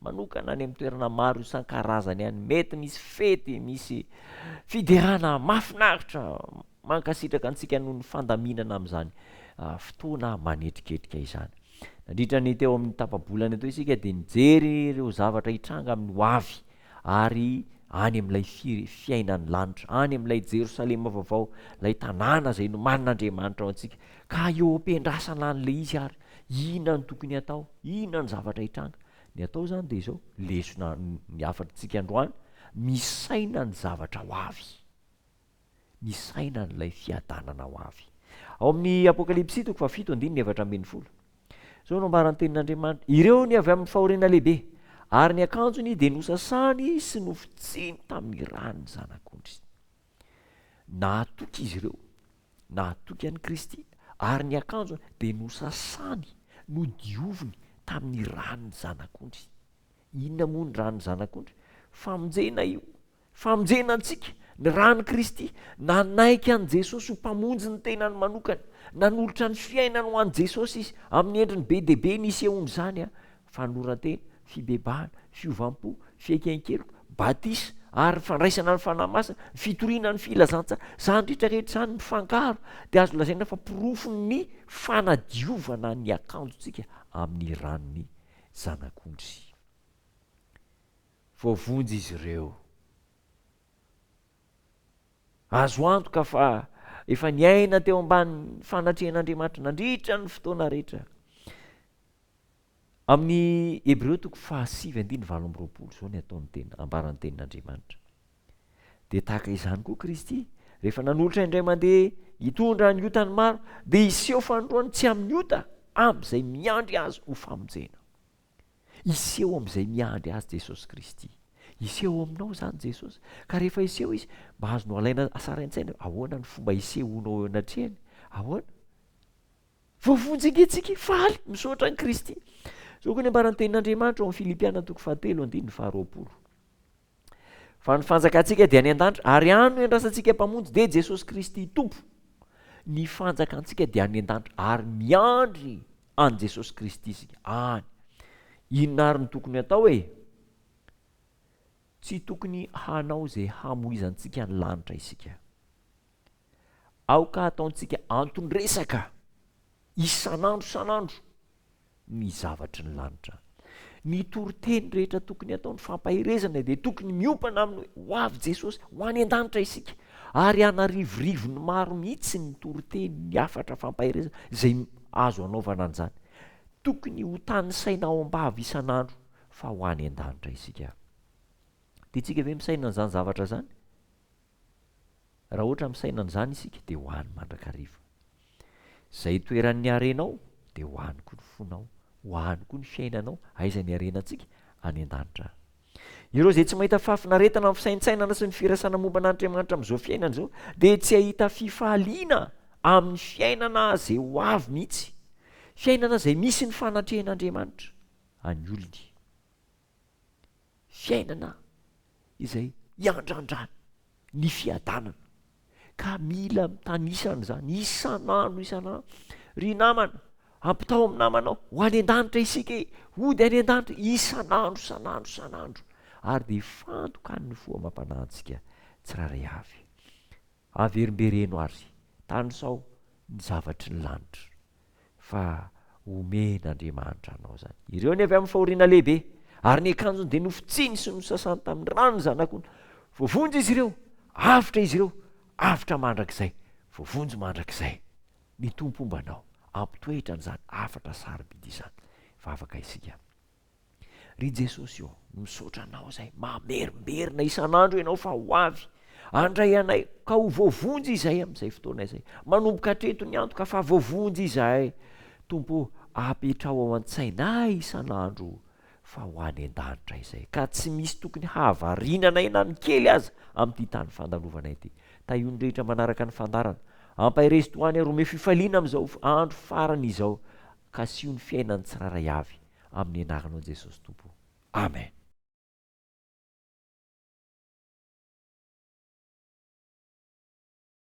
manokana any amin'ny toerana maro isan-karazany any, mety misy fety, misy fiderana mahafinaritra, mankasitraka antsika noho ny fandaminana amin'izany ah, fotoana manetriketrika izany. Nandritra ny teo amin'ny tapa-bolana teo isika dia nijery ireo zavatra hitranga amin'ny ho avy ary any amin'ilay firy fiainan'ny lanitra, any amin'ilay Jerosalema vaovao, ilay tanàna izay nomanin'Andriamanitra ho antsika, ka eo am-piandrasana an'ilay izy ary Inona no tokony hatao? Inona no zavatra hitranga? Ny atao izany dia izao, lesona ny hafatr'tsika androany, misaina ny zavatra ho avy, misaina an'ilay fiadanana ho avy. Ao amin'ny Apokalypsy toko fahafito andininy efatra ambin'ny folo, izao no ambaran'ny tenin'Andriamanitra, Ireo ny avy amin'ny fahoriana lehibe, ary ny akanjony dia nosasany sy nofotsiny tamin'ny rà ny Zanak'ondry. Nahatoky izy ireo, nahatoky an'i Kristy, ary ny akanjony dia nosasany, nodioviny tamin'ny ran'ny Zanak'ondry. Inona moa ny ran'ny Zanak'ondry? Famonjena io, famonjena antsika, ny ran'i Kristy. Nanaiky an'i Jesosy ho Mpamonjy ny tenany manokana, nanolotra ny fiainany ho an'i Jesosy izy, amin'ny endriny be dia be nisehoan'izany fanoran-tena, fibebahana, fiovam-po, fiaiken-keloka, batisa, ary ny fandraisana ny Fanahy Masina, ny fitoriana ny filazantsaha, izany rehetra rehetra izany mifangaro dia azo lazaina fa porofon'ny fanadiovana ny akanjontsika amin'ny ran'ny Zanak'ondry. Voavonjy izy ireo. Azo antoka fa efa niaina teo ambanin'ny fanatrehan'Andriamanitra nandritra ny fotoana rehetra Amin'ny Hebreo toko fahasivy andininy valo amby roapolo izao ny ataon'ny tena, ambaran'ny tenin'Andriamanitra. Dia tahaka izany koa Kristy, rehefa nanolotra indray mandeha hitondra ny otan'ny maro, dia hiseho fanindroany tsy amin'ny ota amin'izay miandry azy ho famonjena. Hiseho amin'izay miandry azy Jesosy Kristy. Hiseho aminao izany Jesosy, ka rehefa hiseho Izy, mba azonao alaina asarain-tsaina, ahoana ny fomba hisehonao eo anatrehany? Ahoana? Voavonjingentsika faly misaotra an'i Kristy. Izao koa ny ambaran'ny tenin'Andriamanitra ao amin'ny Filipiana toko fahatelo andininy faharoapolo. Fa ny fanjakantsika dia any an-danitra, ary any no iandrasantsika Mpamonjy, dia Jesosy Kristy Tompo. Ny fanjakantsika dia any an-danitra, ary miandry an'i Jesosy Kristy isika any. Inona ary no tokony hatao e? Tsy tokony hanao izay hamoizantsika ny lanitra isika. Aoka hataontsika anton-dresaka isan'andro isan'andro ny zavatry ny lanitra. Ny toriteny rehetra tokony hataon'ny fampaherezana dia tokony miompana amin'ny hoe, Ho avy Jesosy, ho any an-danitra isika. Ary hanarivorivony maro mihitsy ny toriteny, ny hafatra fampaherezana izay azo anaovana an'izany. Tokony hotanisaina ao am-bava isan'andro fa ho any an-danitra isika. Tiantsika ve misaina an'izany zavatra izany? Raha ohatra misaina an'izany isika dia ho any mandrakariva. Izay toeran'ny harenao dia ho any koa ny fonao, ho any koa ny fiainanao, aiza ny harenantsika? Any an-danitra. Ireo izay tsy mahita fahafinaretana amin'ny fisaintsainana sy ny firasana momba an'Andriamanitra amin'izao fiainana izao dia tsy hahita fifaliana amin'ny fiainana izay ho avy mihitsy, fiainana izay misy ny fanatrehan'Andriamanitra an'ny olony. fiainana izay iandrandràny ny fiadanana ka mila mitanisa an'izany isan'andro isan'andro. Ry namana, ampitao amin'ny namanao, ho any an-danitra isika e! Hody any an-danitra isan'andro, isan'andro, isan'andro, ary dia ifantokan'ny fo amam-panahintsika tsirairay avy. Averimbereno ary tanisao ny zavatry ny lanitra fa omen'Andriamanitra anao izany. Ireo ny avy amin'ny fahoriana lehibe, ary ny akanjony dia nofotsiny sy nosasany tamin'ny rano ny zanak'ondry. Voavonjy izy ireo, avotra izy ireo, avotra mandrakizay, voavonjy mandrakizay. Ny Tompo homba anao, hampitoetra an'izany hafatra sarobidy izany. Vavaka isika. Ry Jesosy ô, misaotra Anao izay mamerimberina isan'andro Ianao fa ho avy handray anay ka ho voavonjy izahay amin'izay fotoana izay. Manomboka hatreto ny antoka fa voavonjy izahay. Tompo ô, apetraho ao an-tsainay isan'andro fa ho any an-danitra izay ka tsy misy tokony hahavariana anay na ny kely aza amin'ity tany fandalovanay ity. Tahio ny rehetra manaraka ny fandaharana. Ampaherezo tohany ary omeo fifaliana amin'izao andro farany izao. ka asio ny fiainany tsirairay avy amin'ny anaranao Jesosy Tompo o! Amen.